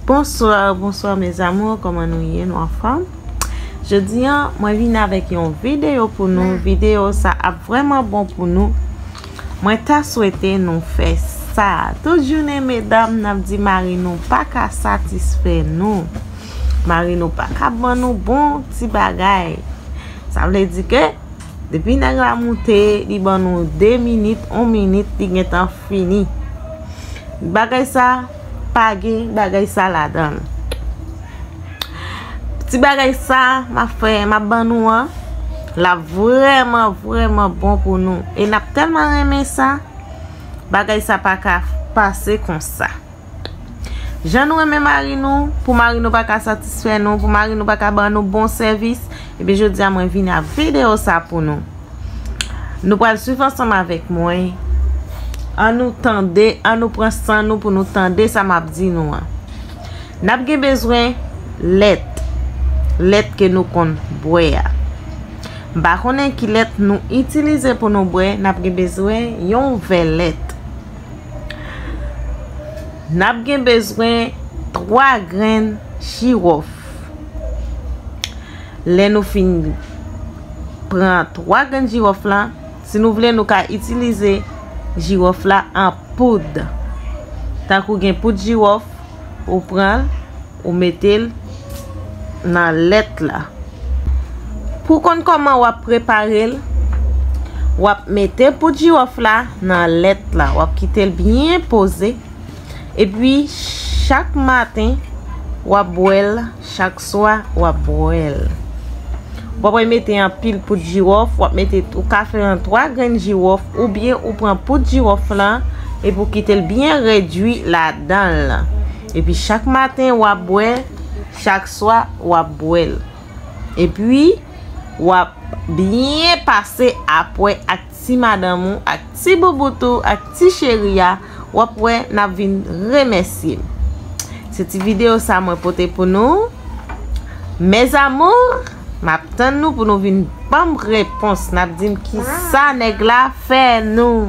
Bonsoir bonsoir mes amours koman nou ye nou anfom jodi an mwen vin avek yon video pou nou video sa ap vreman bon pou nou mwen ta swete nou fe sa tout jounen medam nap di mari nou paka satisfe nou mari nou paka ban nou bon ti bagay sa vle di ke depi neg la moute li ban nou 2 minit 1 minit li gentan fini bagay sa pa gen bagay sa ladanl ti bagay sa ma fè ma ban nou an la vreman vreman bon pou nou e nap telman renmen sa bagay sa pa ka pase konsa jan nou renmen mari nou pou mari nou pa ka satisfè nou pou mari nou pa ka ban nou bon sèvis e pi jodi a mwen vini ak video sa pou nou. Nou pral swiv ansanm avèk mwen. An nou tande, an nou pran san nou pou nou tande sa m ap di nou an. N ap gen bezwen lèt. Lèt ke nou konn bwè a. M pa konnen ki lèt nou itilize pou nou bwè. N ap gen bezwen yon vè lèt. N ap gen bezwen 3 grenn jirof. Lè nou fin pran 3 grenn jiwòf la, si nou vle nou ka itilize jiwòf la an poud. Tankou gen poud jiwòf, ou pran, ou mete l nan lèt la. Pou konn kòman wap prepare l, wap mete poud jiwòf la nan lèt la, wap kite l byen poze, epi chak maten wap bwè l. Chak swa wap bwèl. Wap wè mete anpil poud jiwòf, wap mete ou ka fè an 3 grenn jiwòf oubyen ou pran poud jiwòf lan epi ou kitel byen redwi ladanl. Epi chak maten wap bwè, chak swa wap bwèl. Epi wap byen pase apwè ak. ti madanm ou ak ti boubout ou ak ti cheri a wap wè nap vin remèsyem se ti video sa mwen pote pou nou mes amours map tann nou pou nou vin banm repons nap dim kisa nèg la fè nou.